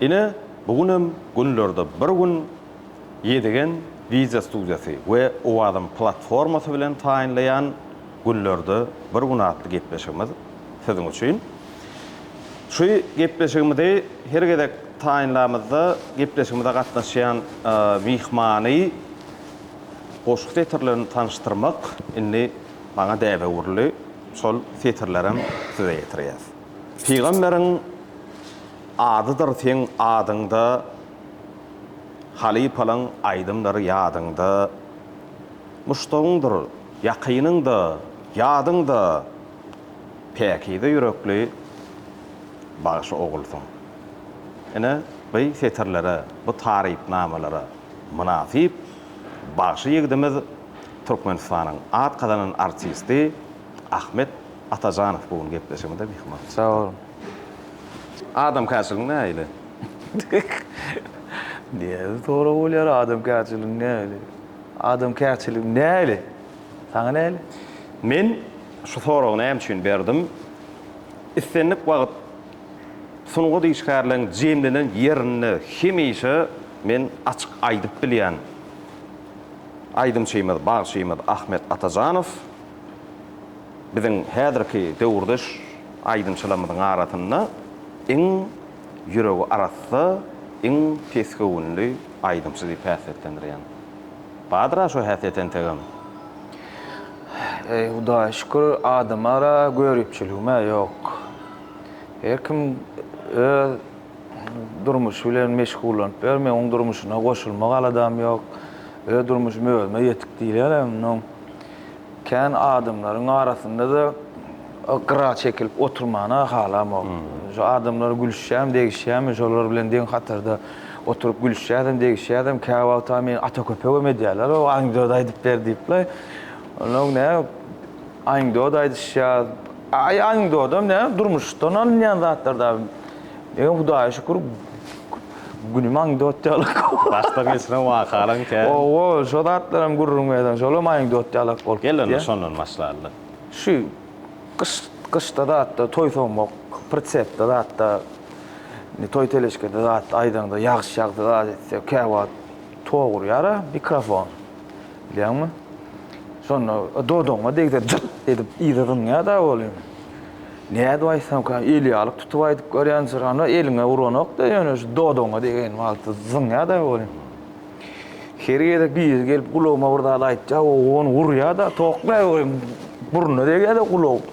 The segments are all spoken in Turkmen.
Ine, bu gün hem günlerde bir gün Ýedigen wideo studiýasy we Owazym platformasy bilen taýynlaýan Günlerde bir gün atly gepleşigimiz siziň üçin. Şu gepleşigimizi her gezek taýynlamyzda gepleşigimize gatnaşýan myhmany goşgy setirlerini tanyşdyrmak indi Maňa däbe urly şol setirlerem size ýetirýäs. Pygamberiň adydyr seň adyňda Halypalaň aýdymlary ýadyňda Muşdagyňdyr ýakynyňda ýadyňda Päkize ýürekli bagşy ogulsyň Ine by setirlere bu tarypnamalara mynasyp bagşy ýigdimiz Türkmenistanyň at gazanan artisti Ahmet Atajanow bu gün gepleşigimize myhman bolupdyr. Sag boluň. Adamkärçiligiň nähili? Nädip sorag bolýar, adamkärçiligiň nähili? Adamkärçiligim nähili? Saňa nähili? Men şu soragy näme üçin berdim? Islendik wagt sungat işgärleriň jemlenen ýerinde hemişe men açyk aýdyp bilýän. Aýdymçymyz, bagşymyz Ahmet Atajanow biziň häzirki döwürdeş aýdymçylarymyzyň arasynda iň ýüregi arassa, iň pesgöwünli aýdymçy diýip häsiýetlendirýän. Bardyr-a şo häsiýet entegem? Eý, Hudaýa şükür, adamara göripçiligim-ä ýok. Her kim öz. Durmuş bilen meşgullanyp ýör. Men oň durmuşyna goşulmak aladam ýok. Öz durmuşym özüme ýetik diýýärem. Mundan kän adamlaryň arasynda-da gyra çekilip oturmany-a halamok. Şu adamlara gülüşýämi, degişýämi, şolar bilen deň hatarda oturyp gülüşýäsem, degişýäsem, käwagt-a meni ata köpegem edýärler, O, anekdot aýdyp ber diýip-le. Onuň ne anekdot aýdyşýar. Aý, anekdotam näme, durmuşdan alynýan zatlar-da. Ýöne Hudaýa şükür günümi anekdot ýaly. Başdan geçiren wakalaň kän. Owo, şo zatlaram gürrüň berseň, şolam anekdot ýalak bolup gitýär. Gel onda şondan başlalyň. Şu gyş, gyşda zatda toý soňmak, pritsepde zatda, indi toý teleşkede zat aýdaňda ýagyş ýagsa zat etse, käwagt tog urýar-a mikrofon. Bilýäňmi? Şonda dodagyňa degse jyrt edip yza zyňýar-da ol indi. Nädip aýtsamka, il ýalyk tutup aýdyp görýän jyrany eliňe uranok-da, ýöne şu dodagyňa degen wagty zyňýa-da ony. Her gezek biri gelip gulagyma bir zat aýtýa, ony urýa-da, tokmaý goýuň, burnuna degýä-de gulag.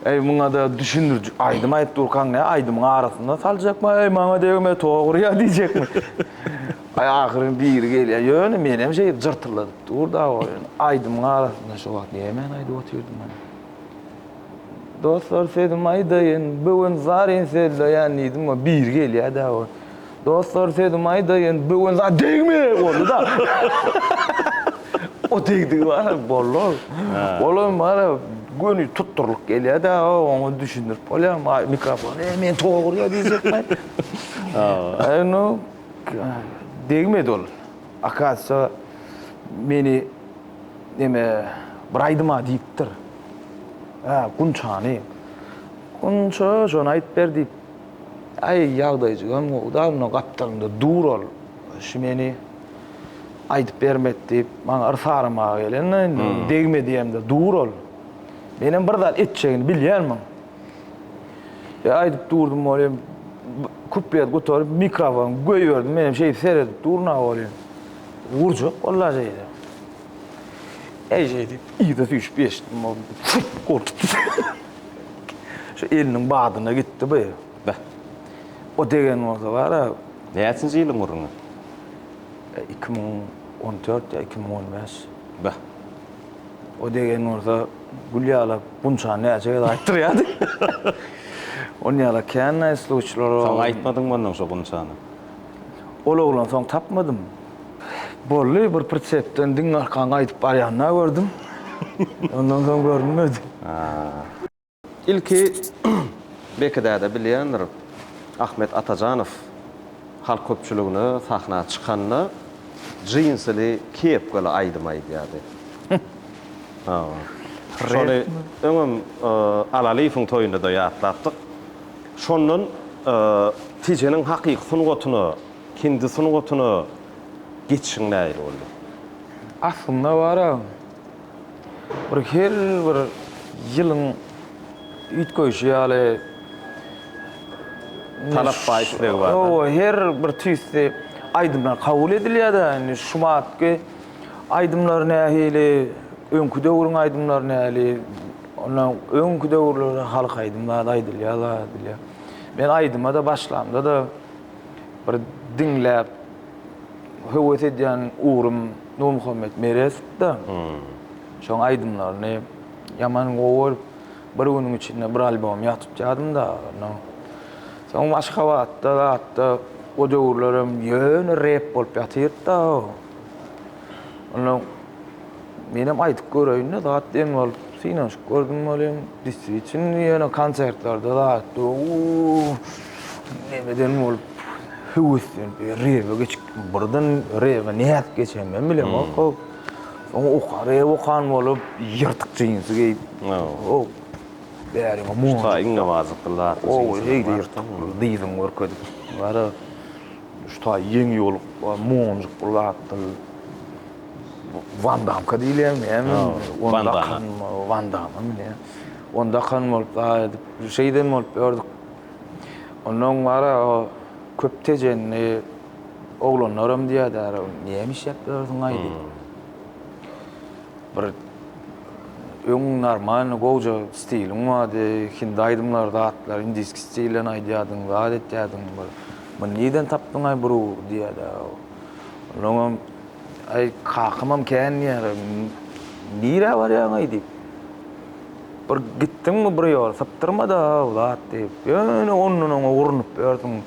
Eý, muňa-da düşündiriji aýdym aýdyp durkaň, nä aýdymyň arasyna saljakmy, eý, maňa degme, tok urýa diýjekmi? Aý, ahyryn biri gelýä, ýöne menem şeýdip jyrtylladyp dur-da, aýdymyň arasynda şu wagt nämäni aýdyp otyrdym men? Dostlar sözüm aýdaýyn bigün zaryn sözleýän diýdim we biri gelýär dä we Dostlar sözüm aýdaýyn bigün za degme boldy da. O degdigi bar boldy ol. Olam bar göni tutdurlyk gelýär dä oňa düşündirip bolýar maý mikrofon e men togur ýa diýjek maý. Aý no degmedi ol. Akasiýa meni Ene, bir aýdym-a diýipdir. Hä, Gunçany. Gunça, şony aýt ber diýip. Aý, ýagdaýjygam gowy-da, onda gapdalymda dur ol. Şu meni aýdyp bermek diýip, maňa yrs aramaga gelen-de, indi degme diýemde dur ol. Menem bir zat etjegini bilýänmiň. E, aýdyp durdum welin, kuplet gutaryp, mikrofony goýberdim, menem şeýdip seredip durun-a welin. Urjak bollar diýdi. Eý diýip, yza süýşüp geçdim. Ol çürt goltupdy. Şu eliniň badyna gitdi bu. Beh. O degen bolsa bar-a. Näçinji ýylyň gürrüňi? Iki müň on dört ýa iki müň on bäş. Beh. O degen bolsa gül ýalap, gunçany näçe gezek aýtdyrýardy. Ony ýala kän-ä sluçlar. Soň aýtmadyňmy onnoň şo gunçany? Ol oglany soň tapmadym. Boldy, bir pritsepden diňe arkan gaýdyp barýanyny-a gördüm. Ondan soň görünmedi. Ilki Beki däde bilýändir, Ahmet Atajanow halk köpçüligine sahna çykanda jinsili, kepkali aýdym aýdýardy. Şony öňem Alalyýewiň toýunda-da ýatlapdyk. Şondan Tijeniň hakyky sungatyna, hindi sungatyna geçişiň nähili boldy? Aslynda bar agam. Bir her bir ýylyň üýtgeýşi ýaly. Talap bar, isleg bar. Hawa, her bir tüýsli aýdymlar kabul edilýär-de, indi şu batky aýdymlar nähili, öňki döwrüň aýdymlary nähili, Onda öňki döwürlerde halk aýdymlary aýdylýar-la diýilýär. Men aýdyma-da başlamda-da bir diňläp höwes edýän ugrym Nurmuhammet Merezdi-de. Şoň aýdymlaryny ýaman gowy görüp, bir günüň içinde bir albom ýa tutýardym dagy onda. Soň Aşgabatda zatda o döwürlerem ýöne rep bolup ýatyr-da o. Onda. Menem aýdyp göreýinde zat diýen bolup synanyşyp gördüm welin diswitin ýöne konsertlerde zat uuu nemeden bolup höweslenip rebe geçipdim birden rebe nädip geçenimi hem bilemok hop soň oka rep okan bolup ýyrtyk jinsi geýip hop bäriňe monjuk tak iňňe barjykly zat ow heýde ýyrtyk dyzyňy görkezip gara şu taý ýeňi ýolup monjuk bir zatdy. Wandamka diýilýän men. Wandam. Wandam indi. Onda kan bolup zar edip, şeýden bolup ýördük. Ondan gara köp tejenli oglanlaram diýýärdi, näme işläp ýörsiň-aý diýip. Bir öň normalny gowja stiliň bardy, hindi aýdymlary zatlar, indiski stilden aýdýardyň, zat etýärdiň. Muny nirden tapdyň-aý bro diýýärdi. Soňam, Aý, kakamam kän diýýär, nirä barýaň-aý diýip. Bir gitdiňmi bir ýol, sypdyrma-da bu zat diýip. Ýöne ondan-oňa urnup ýörsüň.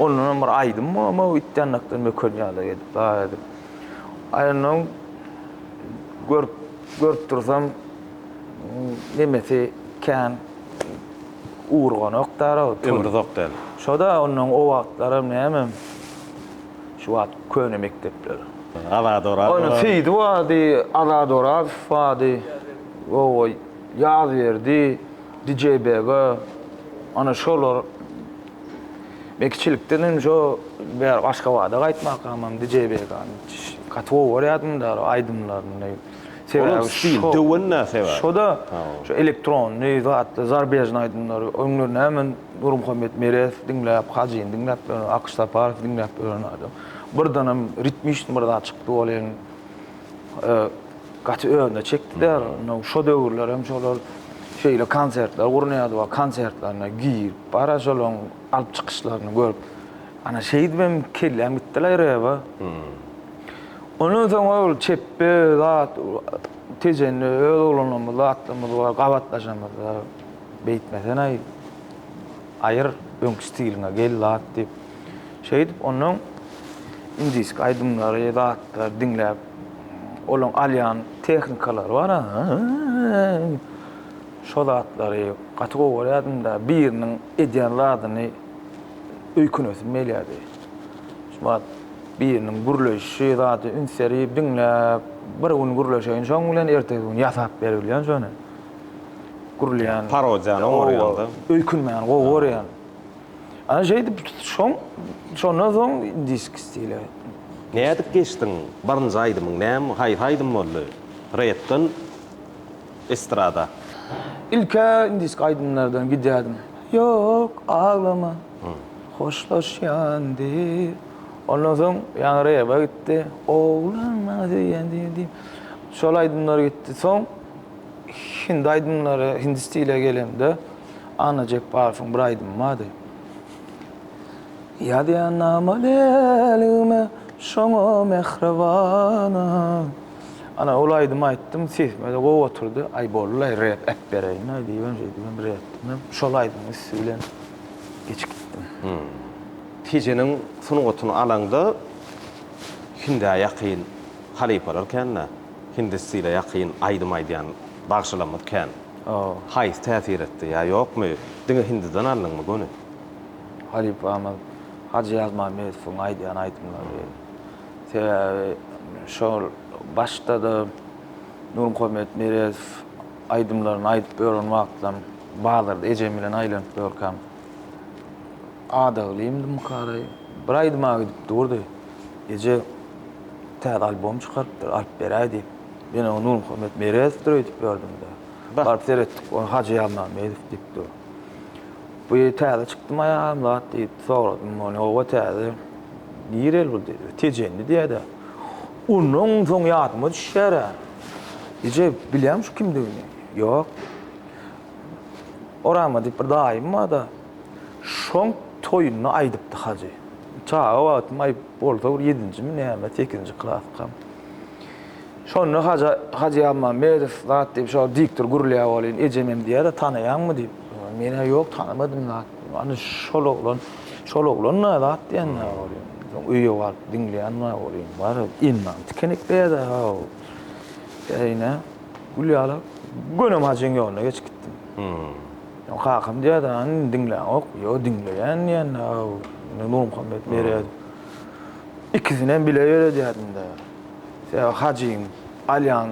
Ondanam bir aýdym bolmag itýandakdan möken ýaly edip, dagy edip. Aýnam görüp, görüp dursam, nemesi kän urganok-da. Ömri uzak däl. Şo-da ondan o wagtlaram nämem. Şu wagt köne mekdepler. Azat Oraz. Onuň Seýdi bardy, Azat Orazow bardy. Oba Ýazberdi, Dijeýbege. Ana şolar. Men kiçilikden hem şo bäri Aşgabada gaýtmakam hem Dijeýbegäni gaty gowy görýärdim-de aýdymlaryny. Sebäbi stil, döwende sebäbi. Şo-da, şu elektronny zatlar, zarbežnyý aýdymlary, oňlar näme. Nurmuhammet Merez diňläp, Hajyny diňläp ýören, Akyş Saparowy diňläp ýören adam. Birdenem ritmiçni bir zat çykdy welin, gaty özüne çekdiler. Şo döwürler hem şolar şeýle konsertler gurnaýardy we konsertlerine girip, bara şolaryň alyp çykyşlaryny görüp, ana şeýdip hem kelläm gitdi-laý rebe. Ondan soň ol çepbe zat, Tejenli öz oglanlarymyz, zatlarymyz bar, gabatlaşamyzda. Beýtmesenaý, aýyr öňki stiliňe gel zat diýip. Şeýdip ondan indiski aýdymlary, zatlary diňläp, olaň alýan tehnikalary bar. Şo zatlary gaty gowy görýärdim-de, biriniň edýän zadyny öýkenesim gelýärdi. Şo wagt biriniň gürleýşi, zady üns berip diňläp, bir gün gürleşeýin şoň bilen, ertesi gün ýasap berip bilýän şony. gurulýan. Parodiýany oňarýanda. Öýkünmän gowy görýän. Ana şeýdip şoň şondan soň disk stile. Nädip geçdiň? Birinji aýdymyň näme, haýsy aýdym boldy? Repden estrada. Ilk-ä disk aýdymlardan gidýärdim. Ýok, aglama. Hoşlaşýan diýip. Ondan soň ýaňy rebe gitdi. Oglan maňa söýýän diýip. Şol aýdymlar gitdi. Soň. Hindi aýdymlary, hindi stile gelende, Anna Jepbarowyň bir aýdymy bardy. Ýazýan namalelgime şoňa mähribana. Ana, ol aýdymy aýtdym, sesime-de gowy oturdy. Aý, boldy-laý, rep äpbereýin-laý diýibem, şeýdibem bir etdim-de, şol aýdymyň üsti bilen geçip gitdim. Tijeniň sungatyny alaňda, hindä ýakyn halypalar kän-dä. Hindi stile ýakyn aýdym aýdýan bagşylarymyz kän. Haýsy täsir etdi ýa ýokmy? Diňe hindiden aldyňmy göni? Halypamyz Hajy Ýazmammedowyň aýdýan aýdymlary. Sebäbi şol başda-da Nurmuhammet Meredow aýdymlaryny aýdyp ýören wagtlam bazarda ejem bilen aýlanyp ýörkäm, Adaglymdymyka araý, bir aýdyma gidip durdy. Eje täze albom çykarypdyr, alyp beräý diýip. Men oňa Nurmuhammet Merezowdyr öýdüp ýördüm-de. Baryp seretdik, ony Hajy Ýazmammedow diýip dur. Bu täze çykdymy aýalam zat diýip soradym ony. Hawa täze. Nireli bu diýdi. Tejenli diýýä-dä. Ondan soň ýadyma düşýär-ä. Eje, bilýäňmi şu kimdigini? Ýok. Orama diýip bir daýym bar-da. Şoň toýunda aýdypdy Hajy. Çaga wagtym aý bolsa bir ýedinjimi näme, sekizinji klasykam. Şonda Haja, Hajy Almammedow zat diýip şo diktor gürleýär welin, ejemem diýýär-de, Tanaýaňmy diýip. Men-ä ýok, tanamadym zat. Ana şol oglan, şol oglan-da zat diýen-ä welin. Soň öýe baryp diňleýän-ä welin, bar, elmany tikenekleýär-de-haw. Käýinä, gül ýaly, gönem Hajyň ýoluna geçip gitdim. Kakam diýýärdi, Hany indi diňläňok. Ýo, diňleýän diýende-ä indi Nurmuhammet berer. Ikisinem bile berer diýýärdim-de. Sebäbi Hajyň alýan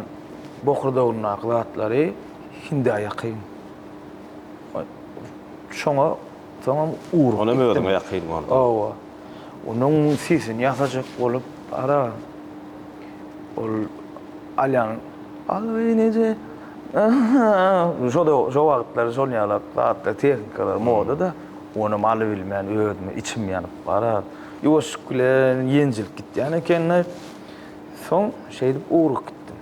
bokurdagyndaky zatlary hindä ýakyn. Şoňa soňam ugrup gitdim. Onem özüňe ýakyn boldy. Hawa. Onuň sisini ýasajak bolup, ara, ol alýan, Allajan eje! Şo wagtlar şol ýalak zatlar, tehnikalar moda-da. Onam alybilmän özüme içim ýanyp barar. Ýuwaşlyk bilen ýenjilip gitýän ekeni. Soň şeýdip ugruk gitdim.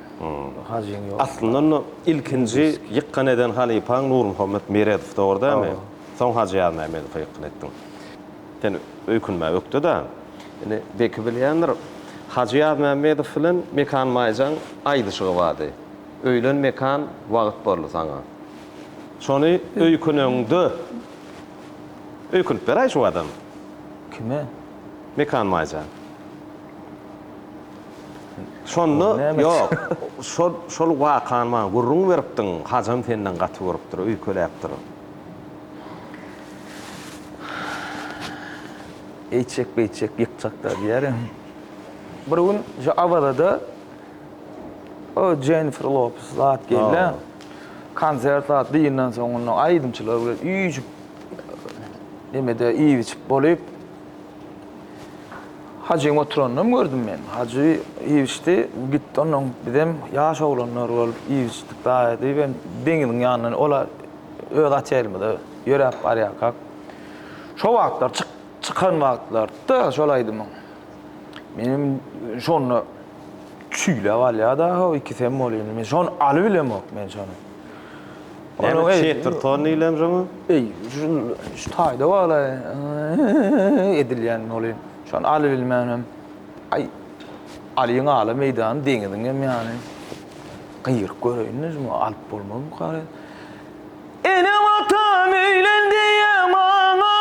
Hajyň ýoly. Aslynda onda ilkinji ýykgyn eden halypaň Nurmuhammet Meredow, dogry dälmi? Soň Hajy Ýazmämmedowa ýykgyn etdiň. Sen öýkünmä ökde-de. Indi Beki bilýändir. Hajy Ýazmämmedow bilen Mekan Maýjaň aýdyşygy bardy. Öýlen mekan wagyt boldy saňa. Şony öýküneňde öýkünip beräý şu adam. Kime? Mekan Maýsa. Şonda ýok. Şol şol wakany maňa gürrüň beripdiň, Hajam senden gaty görüpdir, öýkeläpdir. Eýtjek-beýtjek ýykjak-da diýýär hem. Bir gün şu Awazada. O Jennifer Lopez zat gelýä. Konsert zat diýenden soň onda aýdymçylar bilen üýşüp nemede iýip-içip bolup. Hajyň oturanynam gördüm men. Hajy iýip-içdi, gitdi ondan bizem ýaş oglanlar bolup iýip-içdik daýy diýip hem deňiziň ýanyndan olar öz otelimize ýöräp barýarkak. Şo wagtlar çykan wagtlarydy-da şol aýdymyň. Menem şonda Çüýlä galýar daha ikisi hem bolup indi men şony alyp bilemok men şony. Näme çetirton diýilen şoňa? Eý şu taýda bagla edilýän bolup şony alyp bilmän hem aý alyň ala meýdany deňiziň hem ýany gyýryk göreýin-de şuny alyp bolmazmyka. Ene watan öýlen diýýä maňa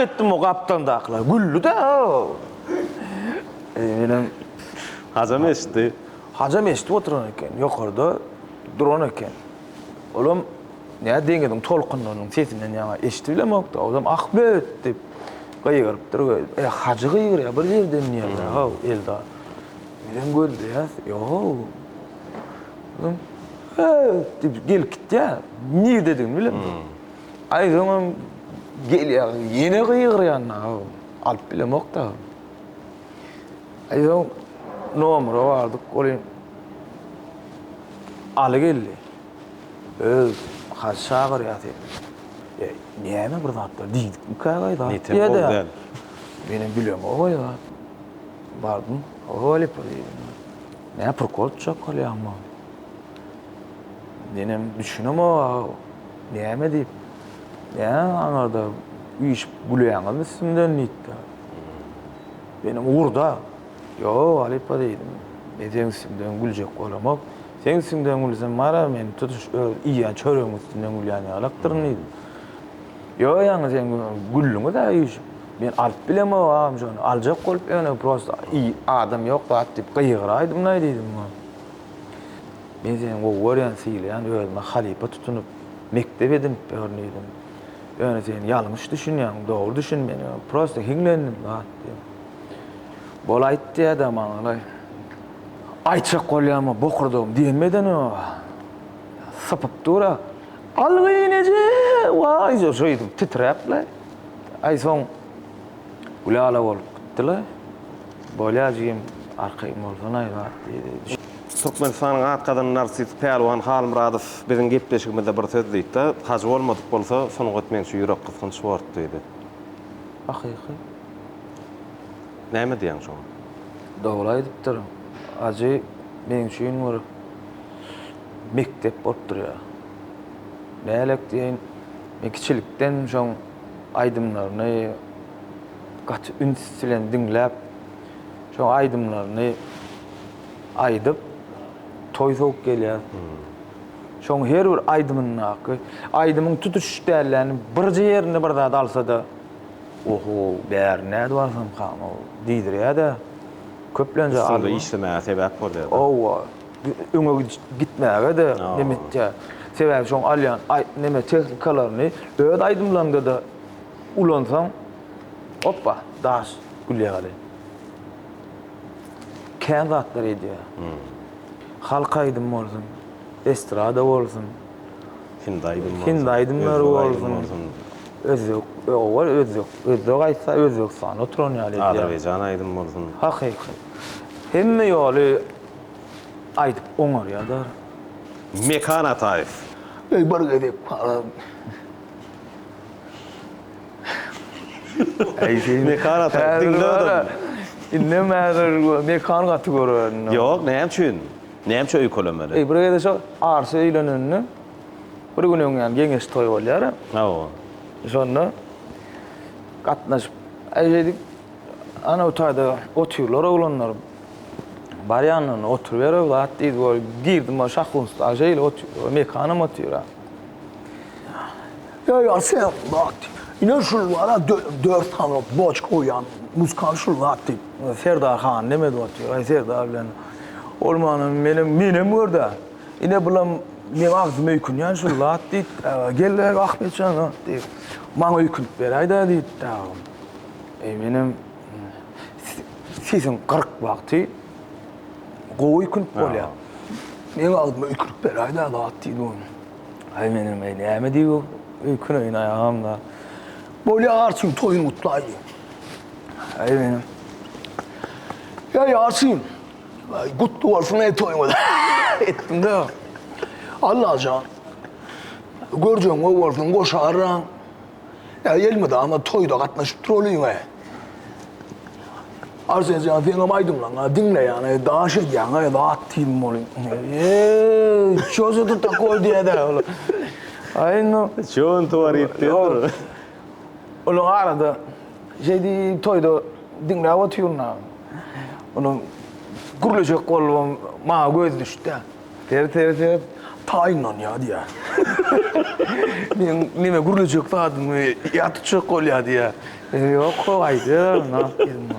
Etdim o gapdaldakylar güldi-de Menem Hajam eşitdi. Hajam eşidip oturan eken, ýokarda duran eken. Olam nä deňiziň tolkunlarynyň sesinden ýaňa eşidi bilemok-da, ozam ah böt diýip gygyrypdyr we e, Hajy gygyrýa bir ýerden diýýär-dä-haw Eldar. Bizem gözleýäs, ýok. diýip gelip gitýär. Nirdedigini bilemok. Aýsoňam gelýär, ýene gygyrýan aga. Alyp bilemok-da. Aýsoň nomere bardyk, ol hem Aly geldi. Öz haç çagyrýar seni. E, näme bir zatlar diýdikmikä gaý zat? Netem bol däl. Menem bilemok-oý zat. Bardym, Howalipa diýdim. Näme prikol çakalýaň maňa? Nenem düşünemok-a, näme diýip, näme aňarda üýşüp gülýäňizmi üstümden diýipdir. Nenem ugurda, Ýok, halypa diýdim, men seniň üstüňden güljek bolamok. Seniň üstüňden gülsem, marar, men tutuş öz iýýän çöregimiň üstünden gülýän ýalaktyryn diýdim. Ýo ýaňy sen güldüňiz-ä üýşüp. Men alyp bilemok agam şony, aljak bolup ýöne prosta i adam ýok zat diýip gygyraýdym-laý diýdim oňa. Men seni gowy görýän, sylaýan, özüme halypa tutunyp, mekdep edinip ýörün diýdim. Ýöne sen ýalňyş düşünýäň, dogry düşün meni, prosta hiňlendim zat diýdim. Bol aýt diýýä-dä maňa-laý. Aýtjak bolýan-a bokurdagym diýemedin-ow. sypyp dur-a. Alwyn eje! Waý, şeýdip titräp-le. Aý, soň Gülala bolup gitdi-le. Bolýa, jigim, arkaýyn bolsana-aý zat, diýdi. Türkmenistanyň at gazanan artisti Pälwan Halmyradow biziň gepleşigimizde bir söz diýdi-de, Hajy bolmadyk bolsa, sungat meň üçin ýürekgysgynç sport, diýdi. Hakyky. Näme diýýäň şoňa? Dogry aýdypdyr. Hajy meň üçin bir. mekdep bolup durýar. Bälek diýen, men kiçilikden şoň aýdymlaryny gaty üns bilen diňläp, şoň aýdymlaryny aýdyp, toý sowup gelýär. Şoň her bir aýdymyndaky, aýdymyň tutuş dälläni birje ýerinde bir zat alsa-da, oho, bäri nädip alsamkam-ow diýdirýär-de, köplenje. Üstüňde işlemäge sebäp bolýar-da. Hawa. öňe gitmäge-de neme etýär. Sebäbi şoň alýan neme tehnikalaryny öz aýdymlaryňda-da ulansaň, hoppa, daş gülýär ýaly. Kän zatlar edýär. Halk aýdymy bolsun, estrada bolsun, hindi aýdymy bolsun, hindi aýdymlary bolsun, özbek, ýok-ow, özbek, özbek aýtsa, Özbegistanda oturan ýaly edýär. Azerbaýjan aýdymy bolsun. Hakyky. Hemme ýoly Aýdyp oňarýadar. Mekan Ataýew. Eý bir gezek palam. Eý sen. Mekan Ataýew. Diňle adam. Indem häzir Mekan gaty gören. Ýok, näme üçin? Näme üçin öýkelemeli? Eý bir gezek şo Arsy öýlenende bir gün öňýan geňeş toý bolýar. Hawa. Şonda gatnaşyp, eý şeýdip, ana bu taýda otyrlar oglanlar. Barýandan oturyber o zat diýdi we girdim o şahunstag şeýle otyr, mekanam otyra. Ýa ýa sen zat. Ine şul bar dört sany boçka goýan muzykant şul zat diýip, Serdar han demedi otyr. Aý Serdar bilen ol mana menem menem görde. Ine bulam meň agzyma öýkünýän şul zat diýip, gel Ahmetjan diýip. Maňa öýkünip beräýdä diýip. Eý menem Sesiň gyryk wagty gowy öýkünip bolýar. Meň agzyma öýkünip beräýdä zat diýdi ol. Aý menem aý näme diýip öýküneýin aý agam-da. Bolýa Arçyn toýuny gutlaý diýdi. Aý menem. Ýa Arçyn gutly bolsun aý toýuňyz etdim-de. Allajan görjegiň gowy bolsun goşaram. Ýa gelmedi ama toýda gatnaşyp turolýyňä. Arsen jan seňem aýdymlaňa diňleýäne daş edýäňä zat diýiň bolýa. Eee, ço se tu takoý diýädä ol. Aý no. Ço on tuwar ýet diýendir. Onuň arada şeýdi toýda diňläp otyryn. Onuň gürleşek bolubam maňa gözi düşdi. Ter ter ter taýynlanýar diýýär. Meň neme gürlejek zadym ýat tutjak bolýar diýýär. Menem ýok ho gaýdy nahk diýdim.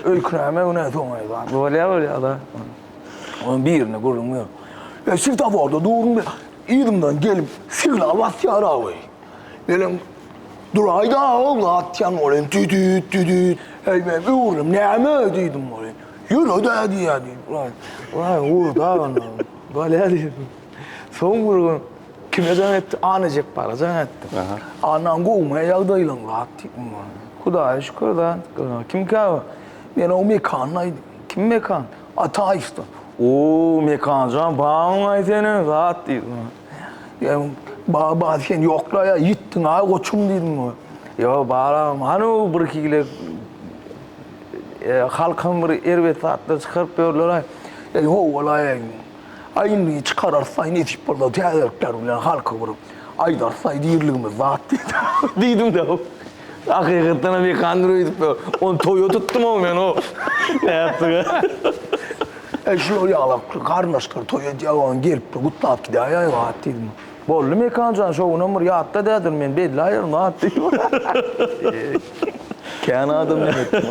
Öýkünäme günä soňaýy bar. Bolýar bolýar-da. Onuň birine gürrüň berip. E svetaforda durun yzymdan gelip signal basýar awy. Menem duraýda-a ol atýan welin tüdüt tüdüt. Heý men öwrülem näme diýdim welin. Ýöre-dä diýýär diýip, ulaý, ulaý, owurda onda. Bolýar diýip. Soň bir gün kime jaň etdi? Anna Jepbara jaň etdi. Annaň gowumy ýagdaýlaň lat diýip, ondan. Hudaýa şükür-dä. Kimkä bu? Men o Mekanyň aýdy. Kim Mekan? Ataýewden. O, Mekanjan, bagyň-aý seniň, zat diýip. Ýa baba sen ýokla ýa ýitdiň aý goçum diýdim oňa. Ýa balam hany bir iki gile e, halkam bir erbet zatlar çykaryp ýörler aý. Ey howalaý aý. Aý indi çykararys aý nesip bolsa täzelikler bilen halka bir aýdarys aý dirligimiz zat diýdim de. Hakykatdanam ýeke android öýdüpdir. Ony toýa tutdum-ow men o. Nätdiga. Äý şular ýaglap garyndaşlar toý edýäg oň gelipdir gutlap gidýäý äý wagt diýdim. Boldy Mekan jan şo günem bir ýatda dädir men belläýerin wagt diýdim. Kän adam diýdim.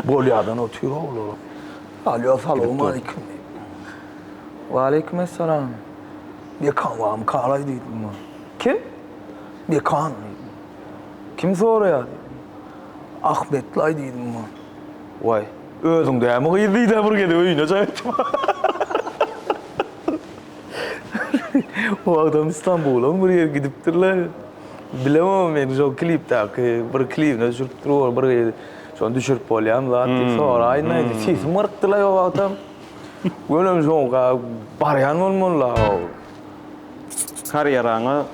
Bolýadan otyr oglar. Alýo salowmaleýkim diýdim. Waleýkim essalam. Mekan barmy kalaý diýdim. Kim? Bekan diýdim. Kim soraýar diýdim. Ahmetlaý diýdim muňa. Waý, özüň dämi gyz diýdi-ä bir gezek öýüne jaý etdim. O wagtam Stambula-m bir ýere gidipdirler. Bilemok men şol klipdäki bir klibine düşüripdir ol bir gyz. Şony düşürip bolýamy zat diýip soraýyn aýdym. Sesim gyrykdylaý o wagtam. Welin şoňka barýan bolmaly-la. Karýeraňa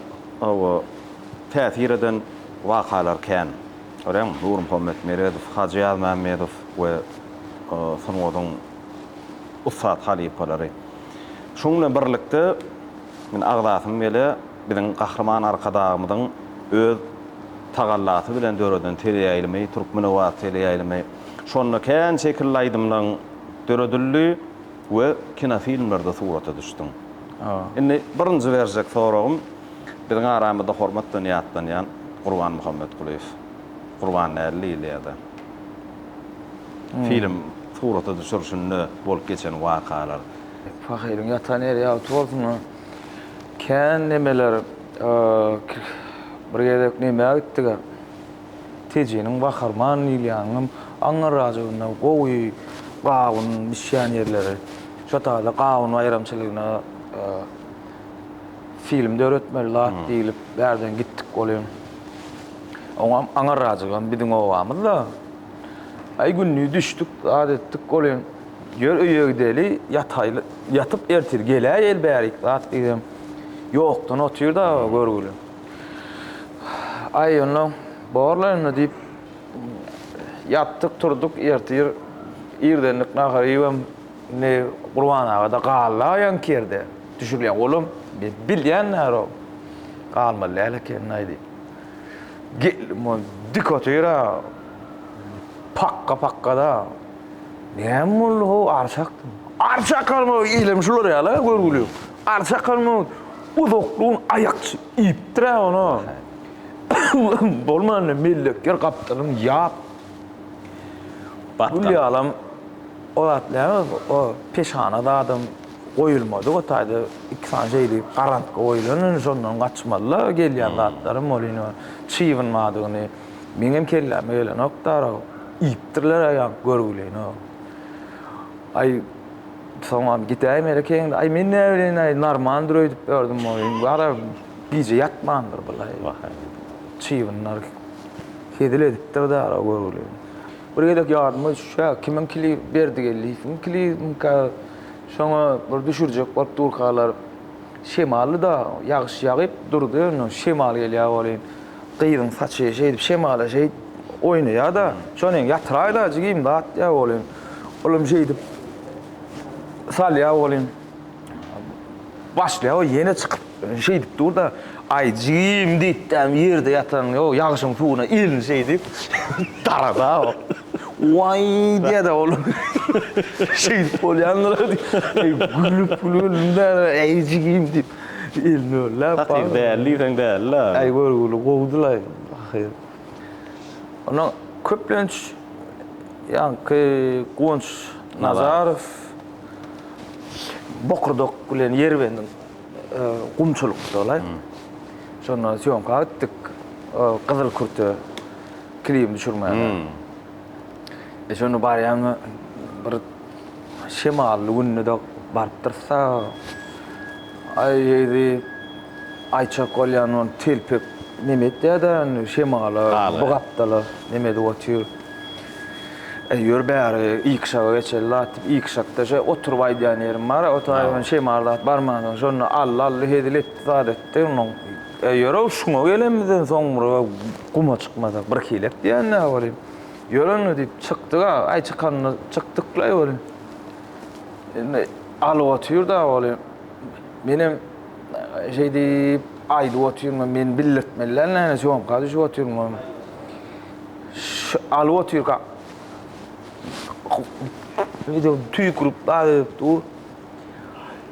hawa täsir eden wakalar kän. Görýäňmi, Nurmuhammet Meredow, Hajy Ýazmämmedow we sungatyň ussat halypalary. Şunuň bilen birlikde, men agzasyny bile biziň Gahryman Arkadagymyzyň öz tagallasy bilen döreden teleýaýlymy, Türkmenobat teleýaýlymy, şonda kän şekilli aýdymlaryň döredildi. we kinofilmlerde surata düşdüň. Indi birinji berjek soragym biziň aramyzda hormat bilen ýatlanýan Gurban Muhammetgulyýew, Gurban nädil diýilýärdi? Film surata düşürişinde bolup geçen wakalar. Pahyryň ýatan ýeri ýagty bolsun a. Kän nemeler, bir gezek nämä gitdik a. Tejeniň gaharman diýilýäniňem aňňyrrajygyna gowy gawun bişýän ýerleri. Şo taýda gawun baýramçylygyna film döretmeli zat diýlip bärden gitdik ol hem. Oňam aňyrrajygam biziň obamyz-da. Aý gündiz düşdük, zat etdik ol hem. Ýör öýe gideli, ýataýly, ýatyp ertir geläýeli bärik zat diýibem ýokdan otyr dagy görgüli. Aý, onda bor-la indi, diýip, ýatdyk-turduk, ertir irdenlik nahary iýibem, indi Gurban aga-da galdy-a ýaňky ýerde, düşürilýän olam, bilýän närow, galmaly däl ekeni-aý, diýip, geldim, ol dik otyr-a, pakga-pakga-da. Näme boldy-how, arçakmy? Arçak galmagy ilem şular ýaly-a, görgüli. Arsakal muny uzaklygyň aýakçy iýipdir-ä ony. Bolmanda mellekler gapdalyny ýap. Gül ýalam o zat däl, o peşana zadam goýulmadyk o taýda iki sany şeýle garamka goýlan, indi şondan gaçmaly-la gelýän zatlarym ol indi çybynmadygyny meňem kelläme gelenok-da arag iýipdirler-ä ýaňky görgüleýin-ow. Aý. Soňam gidäýim ere keýnde. Aý men näbileýin-aý, normaldyr öýdüp ýördüm ol. Indi gara gije ýatmandyr bulaý. Çybynlar hezil edipdir dara göwreli. Bir gezek ýadyma düşýä, kimiň kili Berdigeldiýewiň kilimika, şoňa bir düşürjek bolup durkalar şemaldy-da, ýagyş ýagyp durdy, indi şemal gelýä welin, gyzyň saçy şeýdip şemala şeýdip oýnaýa-da, şony ýatyraý-da jigim zatdiýä welin, Olam şeýdip salýa oglym. Başlaýa ýene çykyp şeýdip dur-da, aý jigim diýipdämi ýerde ýatan, ýo ýagşyň suwuna elini şeýdip darada. Waý diýede olam. Şeýdip bolýandyr diýip, gülüp gülüp-de, aý jigim diýip elini örläp. Hakyky däl diýseň däl-le. Aý görgüli gowudy-laý ahyry. Onuň köplenç ýaňky Guwanç Nazarow bokurdak bilen ýerbendiň gumçulykda-laý. Şonda sýomka gitdik gyzyl kürte klibini düşürmäge. E şonda barýan bir şemally günde-de barypdyrys-da. Aý eýdi. Aýçak bolýan ol telpek neme etýär-dä indi şemala, bu gapdala neme edip otyr. Eý, ýör bäri, ýykşaga geçeli zat diýip, ýykşakda şeý oturyp aýdýan ýerim bar-a, otaýyň indi şemal zat barmansoň, şonda Alla-Alla hezil etdi, zat etdi. Onnoň, Eý, ýör-ow, şuňa gelenimizden soň bir guma çykmasak, bir hilek diýen-dä welin. Ýör onda diýip, çykdyk-a, aý çykanda çykdyklaý welin. Indi alyp otyr-da welin, menem. Şeý diýip, aýdyp otyryn, men bildirtmeliler näme, sýomka düşüp otyryn. Şu alyp otyrka, video tüýkürip daýyp dur.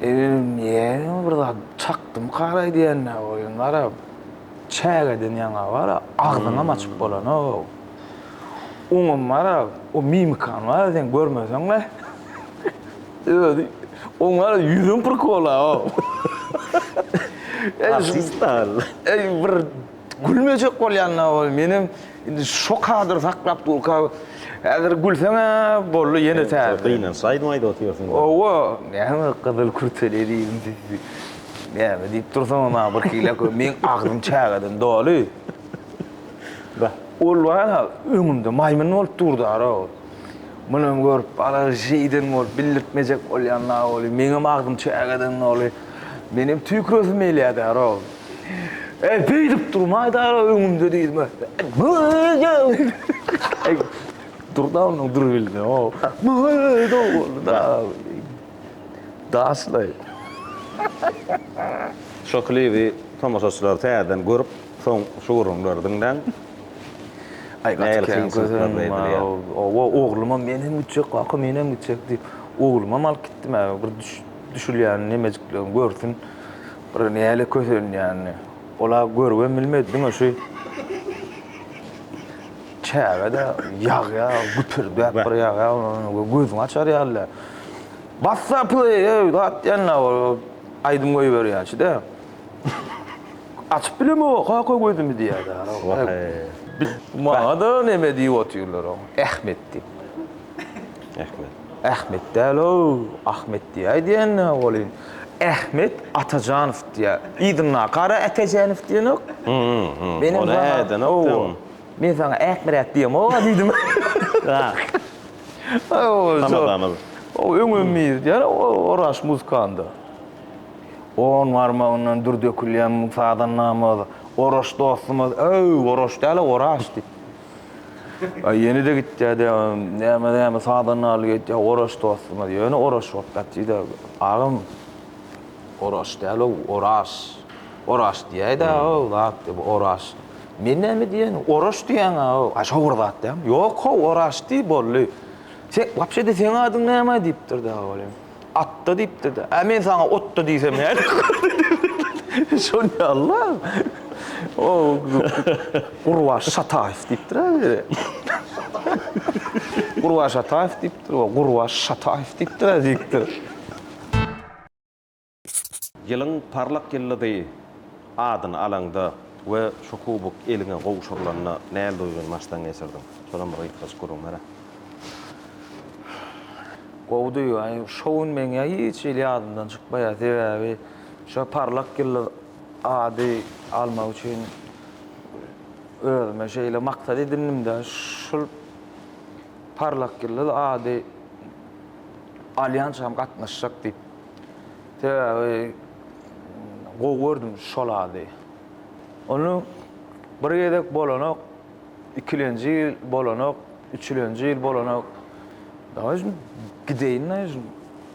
Eýerim, eýerim, bir zat çakdymka raý diýende, oýun bar-a, çägeden ýaňa bar-a, agzyňam açyp bolanok. Oňam bar a o mimikany bar a seň görmeseň we özi oň bar a ýüzüň prikol a o. Artist dal. Eý bir gülmejek bolýan a ol menem indi şo kadry saklap durka häzir gülseň a boldy ýene täze. Gynanşaýdym aýdyp otyrsyň da. Owo näme gyzyl kürteli diýdim sizi näme diýip dursaňyz maňa birhili men agzym çägeden doly. Ba, ol bar-a, öňümde maýmyn bolup durda-da ol. Muny görüp, alergiýaden bolup, bildirtmejek bolýan-la ol. Meňem agzym çägeden doly. Menem tüýküresim gelýär-dä ol. Äý, beýdip durmaý-da ol öňümde diýdim. Durda onuň dur bildi. O, myy-dow boldy-da. Daşlaý. Şo klibi tomaşaçylar täzeden görüp, Soň şu gürrüňleri diňläň. Aý gaty kän gyzym bar oba ogluma men hem gitjek kaka men hem gitjek diýip oglumy alyp gitdim ä bir düşülýän nemejiklerini görsün bir näle kösenýänini ola görüp hem bilmedi diňe şu çägede ýagýa güpürdäp bir ýagýa gözüňi açar ýaly bassa play öýdip atýan aýdym goýberýän şide. Açyp bilemok oka oka gözümi diýýärdi. Maňada neme diýip otyrlar oň. Ähmet diýip. Ähmet. Ähmet däl-ow, Ahmet diýäý diýenine welin, Ähmet Atajanow diýýär. Yzyndaky ara Ätäjänow diýenok. Meniň Ony ädenok diýen. Men saňa Ähmiräk diýemok-a diýdim. Tamadaňyz. Öňem diýýär, Oraş muzykanda. On barmagyndan dür dökülýän sazandamyz, Oraş dostumyz, Öý, Oraş däl-ä, Oraş! diýip. Aý, ýene-de gitýär-de, näme-näme sazandalyk edýär, Oraş dostumyz, ýöne Oraş bolup gatyr-da, agam. Oraş däl-ow, Oraş! Oraş diýäý-dä, aw, zat, diýip, Oraş. Men näme diýýäýin, Oraş diýýäň-ä-ow, a şo bir zat dälmi? Ýok-how, Oraş diý, boldy. Sen, wapşe-de seň adyň näme? diýipdir-de, agam. Atda diýipdi-de. Ä men saňa otda diýsem nädip görünýär? Şol ýaly-la. O Gurbaş Şataýew diýipdir-ä biri. Gurbaş Ataýew diýipdir, o Gurbaş Şataýew diýipdir-ä diýipdir. Ýylyň parlak ýyldyzy adyny alaňda we şu kubok eliňe gowşurylanda näl duýgyny başdan geçirdiň? Şolam bir gysgaçyk gürrüň ber-ä. Gowy duýga. Şo gün meň ýa hiç hili ýadymdan çykmaýar. Sebäbi şo parlak ýyldyz ady almak üçin özüme şeýle maksat edindim-de, şul parlak ýyldyz ady alýançam gatnaşjak diýip. Sebäbi gowy gördüm şol ady. Ony bir gezek bolanok. Ikilenji ýyl bolanok, üçülenji ýyl bolanok. Daýy şun gideýin daýy şun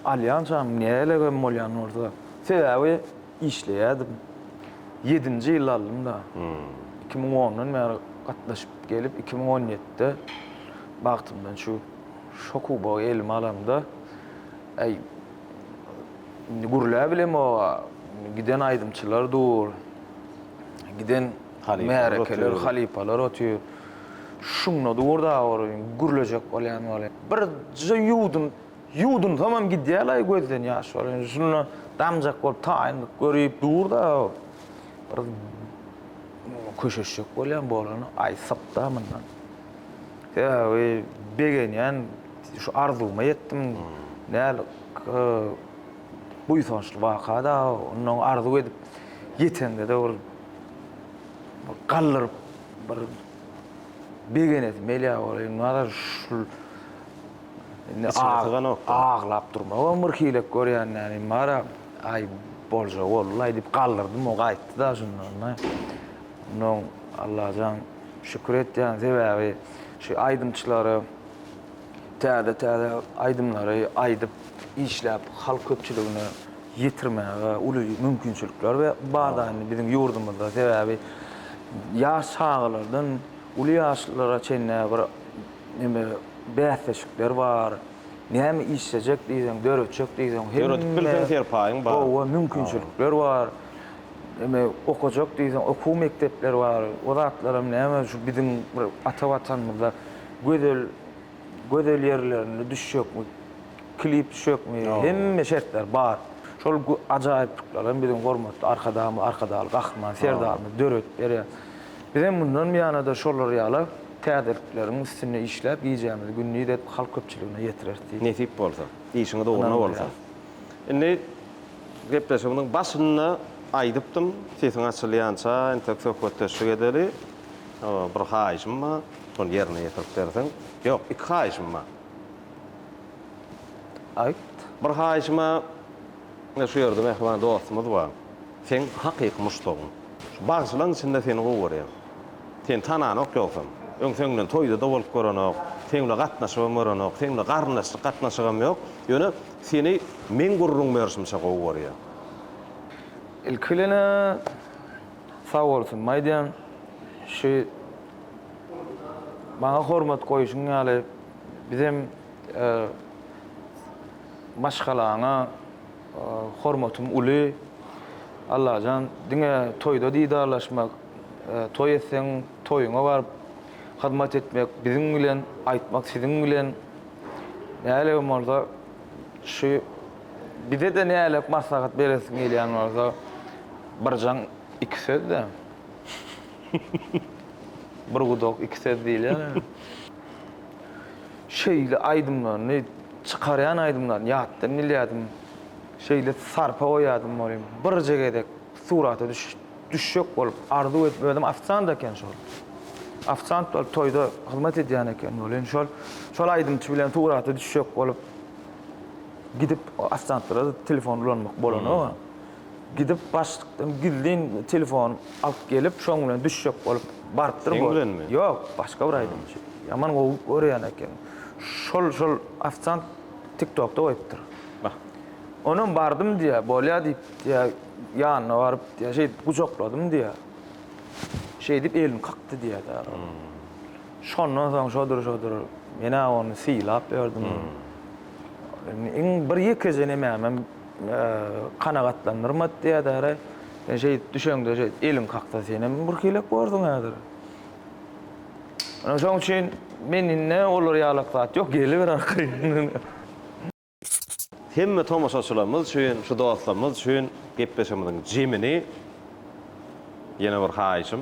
alýançam nälegem bolýan bolsa. Sebäbi işleýädim. Ýedinji ýylda aldym-da. Iki müň ondan bäri gatnaşyp gelip, iki müň on ýedide bagtymdan şu şo kubogy elime alamda, äý, indi gürläp bilemog-a, indi giden aýdymçylar dur, giden, Märekeler, halypalar otyr. Şunda dur dagy orun, gürlejek bolýan wali. Birje ýuwdun, ýuwdunsamam gidýär-laý gözden ýaş orun. Şunda damjak bolup taýynlyk görüp dur dagy bir köşeşjek bolýan bolany aýtsak-da mundan. Sebäbi begenýän, şu arzuwyma ýetdim. Näl, k. Buýsançly waka-da, onnoň arzuw edip ýetende-de ol bir galdyryp, bir begenesi Melýa Gorýewnazar şul indi aglap durmagam bir hilek görýän näme bar-a, aý, bolja boldy-laý diýip galdyrdym, o gaýtdy-da şundan-da. Onnoň Allajan şükür etýän sebäbi şu aýdymçylary Täze täze aýdymlary aýdyp işläp halk köpçüligine ýetirmäge uly mümkinçilikler we bar da indi biziň ýurdumyzda sebäbi ýaş çagalardan uly ýaşlylara çenli bir neme bäsleşikler bar näme işlejek diýseň döretjek diýseň hemme döredip bilseň serpaýyň bar gowy mümkinçilikler bar neme okajak diýseň okuw mekdepleri bar o zatlaram näme şu biziň bir ata watanymyzda gözel gözel ýerlerinde düşjekmi, klip düşjekmi, hemme şertler bar. Şol ajaýyplyklar hem biziň hormatly Arkadagymyz, Arkadagly Gahryman Serdarymyz döredip berýär. Biz hem mundan buýana-da şolar ýaly täzelikleriň üstünde işläp, gijämizi gündiz edip, halk köpçüligine ýetireris diýip. Nesip bolsa, işiňiz ugruna bolsun. Indi gepleşigimiziň başynda aýdypdym, sesiň açylýança entek söhbetdeşlik edeli. Bir haýyşym bar. Şony ýerine ýetirip berseň. Ýok, iki haýyşym bar. Aýt. Bir haýyşym-a, ine şu ýerde mähriban dostumyz bar. Seň hakyky muşdagyň. Şu bagşylaryň içinde seni gowy görýän. Seni tananok ýogsam. Öň seň bilen toýda-da bolup görenok, seň bilen gatnaşybam görenok, seň bilen garyndaşlyk gatnaşygam ýok. Ýöne seni meň gürrüň berşimçe gowy görýän. Ilki bilen-ä. Sag bolsun Maýdan şu maňa hormat goýuşyň ýaly bizem maşgalaňa hormatym uly Allajan diňe toýda didarlaşmak toý etseň toýuňa baryp hyzmat etmek biziň bilen aýtmak siziň bilen nälegem bolsa şu Bize-de nälet maslahat beresiň gelýän bolsa, birjaň iki söz-de. Bir gudak iki söz diýilýär ya. Şeýle aýdymlaryny, çykarýan aýdymlaryny ýatdan bilýärdim. Şeýle sarpa goýýardym welin, birje gezek surata düşjek bolup arzuw edip, özem ofisiant eken şol. Ofisiant bolup toýda hyzmat edýän eken welin, şol aýdymçy bilen surata düşjek bolup, Gidip ofisiantlara telefon ulanmak bolanok-a. Gidip başlykdan gizlin telefon alyp gelip, şoň bilen düşjek bolup barypdyr bu. Seň bilenmi? Ýok, başga bir aýdymçy. Ýaman gowy görýän eken. Şol, şol ofisiant TikTokda goýupdyr. Bah. Onam bardym diýýär, bolýa diýip diýýär, ýanyna baryp diýýär, şeýdip gujakladym diýýär. Şeýdip elini kakdy diýýär-de. Şondan soň şodur-şodur, men-ä ony sylap ýördüm. Iň bir ýekeje nemämem kanagatlandyrmady diýädara. Sen şeýdip düşeňde şeýdip eliň kaksa senem bir heleýk borduň häzir. Ine şoň üçin men indi olar ýalak zat ýok geliber arkaýyndan. Hemme tomaşaçylarymyz üçin, şu dostlarymyz üçin gepleşigimiziň jemini ýene bir haýyşym.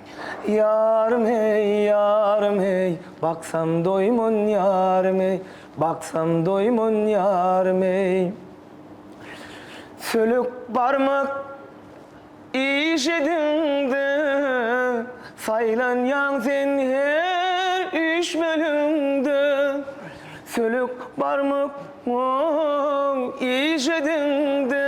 Ýarym heý, ýarym heý, baksam doýman ýarym heý, baksam doýman ýarym heý. Sülük barmak işigiňde saýlanýaň sen her üýşmeliňde. Sülük barmak işigiňde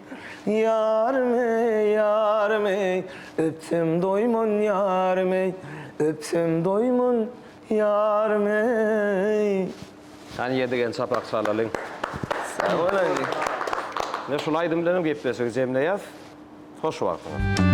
Ýarym eý, ýarym eý, öpsem doýman ýarym eý, öpsem doýman ýarym eý. Hany ýedigen çapak çalalyň. Sag boluň. Ine şul aýdym bilenem gepleşigi jemleýäs. Hoş wagtyňyz.